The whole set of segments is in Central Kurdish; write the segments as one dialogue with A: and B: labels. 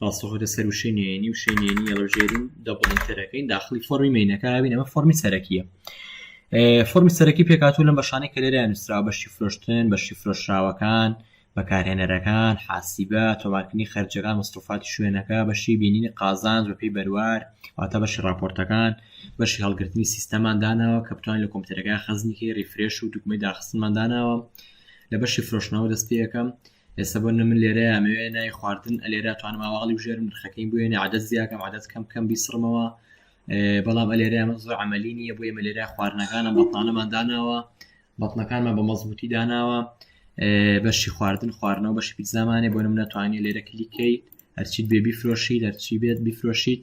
A: پاسۆک لەسەر وشەی نوێنی وشەی نوێنی یەڵەژێرین دە بڵندترەکەین داخلی فۆرمی مینەکەبین ئەمە فۆرمی سەرەکیە فۆرمی سەرەکی پێکاتوو لە بەشانەی کە لێرە نووسرا بەشی فرۆشتن بەشی فرۆشراوەکان بەکارهێنەرەکان حاسیبە تۆمارکردنی خەرجەکان مستوفاتی شوێنەکە بەشی بینینی قازان زۆپی بەروار واتە بەشی راپۆرتەکان بەشی هەڵگرتنی سیستەمان داناوە کە بتوانین لە کۆمپیوتەرەکە خەزنیکی ریفرێش و دوکمی داخستمان داناوە لە بەشی فرۆشنەوە دەستپێکەکەم و ئێستا بۆ نمونە من لێرەیا ئەمەوێ ناوی خواردن ئەلێرا توانم ئاواڵی بژێرم نرخەکەی بوێنە عادەت زیاکەم عادەت کەم کەم بیسڕمەوە بەڵام ئەلێرا من زۆر عملی نییە بۆ ئێمە لێرا خواردنەکانم بەتانەمان داناوە بەتنەکانمان بە مەزبوتی داناوە بەشی خواردن خواردنەوە بەشی پیززانانێ بۆ نم ناتوانانی لێرە کلیکەیت هەرچیت بێ بیفرۆشی دەرچی بێت بیفرۆشیت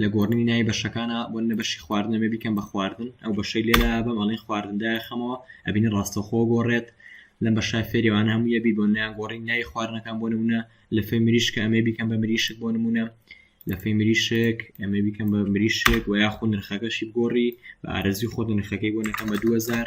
A: لە گۆڕنی نای بەشەکانە بۆ نە بەشی خواردنە بێ بیکەم بە خواردن ئەو بەشەی لێرا بەم ئەڵێ خواردندا خەمەوە ئەبینە ڕاستەخۆ گۆڕێت لەم بە شای فێریوان هەموو یەبی بۆ نیان گۆڕی نای خواردنەکان بۆ نمونە لە فێ مریشکە ئەمێ بیکەم بە مریشک بۆ نمونە لە فێ مریشک ئەمێ بیکەم بە مریشک و یاخود نرخەکەشی بگۆڕی بە ئارەزی خۆ نرخەکەی بۆ نەکەم بە 2000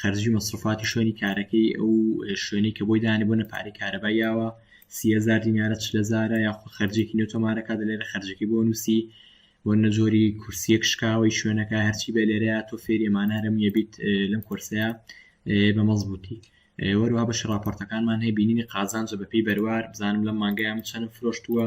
A: خەرجی و مەسروفاتی شوێنی کارەکەی ئەو شوێنەی کە بۆی دانێ بۆ نەپارەی کارەبای یاوە سیهزار دینارە چ لە زارە یاخۆ خەرجێکی نوێ تۆمارەکە دەلێرە خەرجەکەی بۆ نووسی بۆ نەجۆری کورسیەک شکاوی شوێنەکە هەرچی بە لێرەیە تۆ فێری ئەمانە هەرم یەبیت لەم کورسەیە بە مەزبوتی وەروها بەش راپۆرتەکانمان هەیە بینینی قازانجە بەپی بەروار بزانم لەم مانگەیان چەند فرۆشتووە